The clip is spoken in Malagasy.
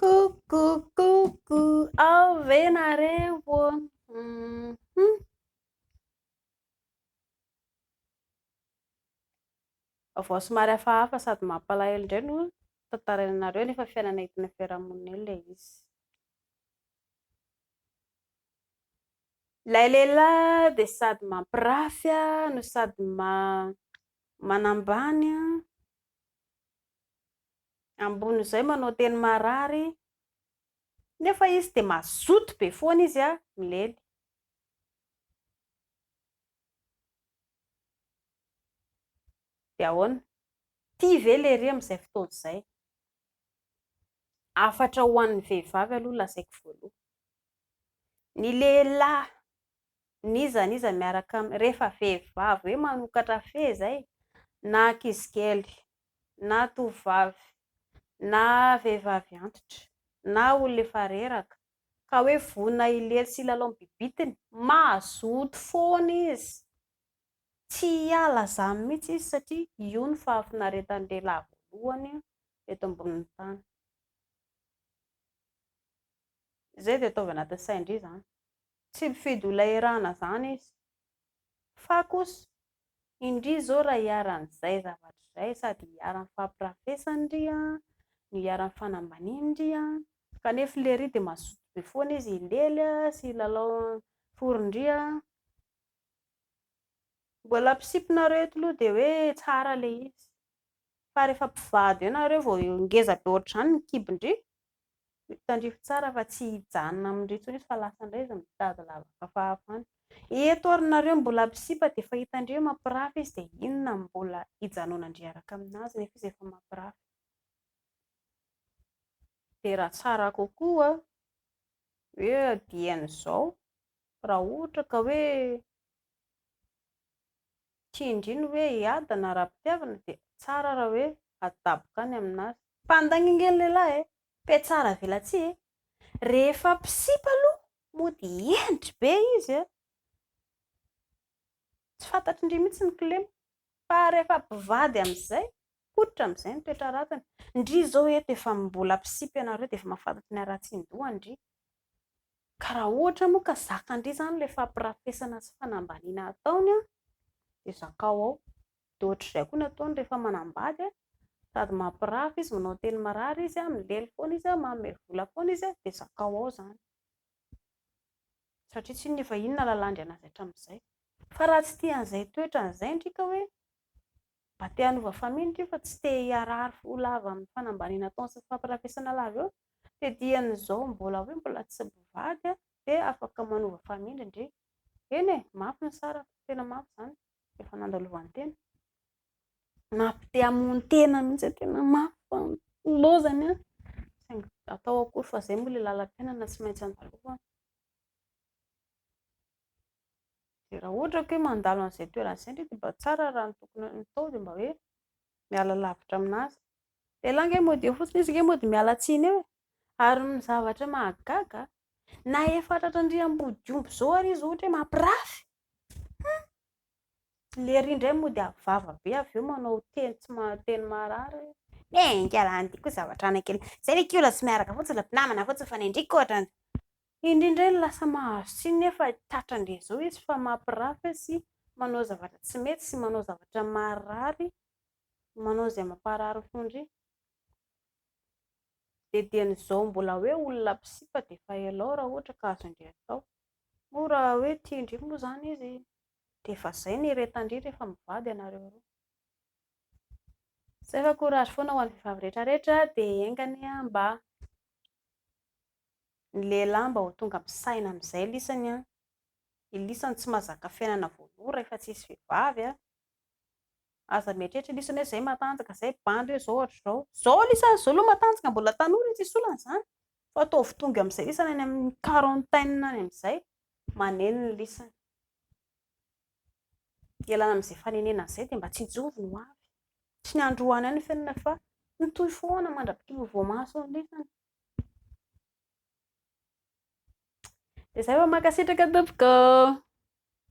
Koukoukoukou, ao ve nareo ô? Hum. Vaovao somary hafahafa sady mampalahelo indray no tantaraina anareo nefa fiainana entina fiarahamonina eo ilay izy. Ilay lehilahy dia sady mampirafy no sady manambany Ambonin'izay manao teny marary nefa izy dia mazoto be foana izy a! Milely. Dia ahoana? Tia ve lery amin'izay fotoana izay? Hafatra ho an'ny vehivavy aloha lazaiko voaloha. Ny lehilahy n'iza n'iza miaraka aminy rehefa vehivavy hoe manokatra fehy izay na ankizikely na tovovavy na vehivavy antitra na olona efa reraka ka hoe vonona hilery sy hilalao ny bibitiny, mazoto foana izy, tsy hiala izany mihitsy izy satria io no fahafinaretan-dehilahy voalohany eto ambonin'ny tany. Izay dia ataovy anatin'ny sain-dry izany. Tsy mifidy olona iarahana zany izy. Fa kosa, indry zao raha iharan'ny zay zavatra zay sady iharan'ny fampirafesany ndry an, no iharan'ny fanambaniany ndry an, kanefa le ry dia mazoto be foana izy hilely an, sy hilalao an fory ndry an, mbola ampisipinareo eto loha dia hoe tsara le izy, fa rehefa mpivady eo nareo vao ngeza be ohatr'izany ny kibo ndry, Tandrify tsara fa tsy hijanona amin'ireo intsony izy fa lasa indray izy mitady lavaka fahavalo. Eto ary nareo mbola mpisipa dia efa hitandreo mampirafy izy dia inona no mbola hijanonandry hiaraka aminazy nefa izy efa mampirafy. Dia raha tsara kokoa hoe adiany izao raha ohatra ka hoe Tsia indry ny hoe hiadana ara-pitiavana dia tsara raha hoe hadaboka any amin'azy. Mpandainga nge ny lehilahy e! Pe tsara velatsihy e! Rehefa mpisipa aloha mody hendry be izy a! Tsy fantatry ndry mihitsy ny kilema. Fa rehefa mpivady amin'izay, poitra amin'izay ny toetra ratiny. Ndry izao eto efa mbola mpisipa ianareo dia efa mahafantatra ny haratsian-doha ndry. Ka raha ohatra moa ka zakan-dry izany ilay fampirafesana sy fanambaniana ataony dia zakao ao. Dia ohatr'izay koa ny ataony rehefa manambady, sady mampirafy izy, manao teny marary izy, milely foana izy, manome vola foana izy, dia zakao ao izany. Satria tsinona efa inona lalandry an'azy hatramin'izay. Fa raha tsy tia an'izay toetrany izay ndry ka hoe Mba te hanova faminitra io fa tsy te hiharary ho lava amin'ny fanambaniana ataony sy ny fampirafesana lava eo. Te diany izao mbola hoe mbola tsy mpivady dia afaka manova famindra ndry. Eny e, mafy ny sarako, tena mafy izany, efa nandalovan'tena. Mafy te hamono tena mihitsy hoe tena mafy fa ny lozany an. Saingy atao akory fa izay moa ilay lalam-piainana tsy maintsy andalovana. dia raha ohatra ka hoe mandalo an'izay toerana izay indray dia mba tsara raha ny tokony hatao dia mba hoe miala lavitra amin'azy, elah ange mody eo fotsiny izy ange mody miala tsiny eo e! ary ny zavatra mahagaga na efa tratry ny riham-body omby izao ary izy ohatra hoe mampirafy hum! lery indray mody avy vava be avy eo manao teny tsy maha teny marary hoe enga lah andiako zavatra any kely, izay ve kiola tsy miaraka fotsiny ry mpinamana fa tsy mifanendrika ohatra an'izay Indry indray lasa mahazo tsiny nefa tratra ndry zao izy fa mampirafy sy manao zavatra tsy mety sy manao zavatra marary manao izay mamparary fo ndry de diany zao mbola hoe olona mpisipa de efa elao raha ohatra ka azo ndry atao moa raha hoe tia ndry moa zany izy de efa zay ny reta ndry rehefa mivady ianareo roa zay fa courage foana ho an'ny vehivavy rehetra rehetra de enga anie mba Ny lehilahy mba ho tonga misaina amin'izay lisany an! Ny lisany tsy mahazaka fiainana voaloha rahefa tsy hisy vehivavy an! Aza mieritreritra lisany hoe izay matanjaka izay bandy hoe izao hatrizao. Izao lisany izao aloha matanjaka mbola tanora e! Tsy hisy olana izany fa ataovy tonga amin'izay lisany any amin'ny quarantaine any amin'izay maneno ny lisany. Ialana amin'izay fanenenana izay dia mba tsy hijoro ny ho avy. Tsy ny androany ihany ny fiainana fa mitohy foana mandra-pitia ho voamaso ny lisany. Dia zay fa mankasitraka tompoko.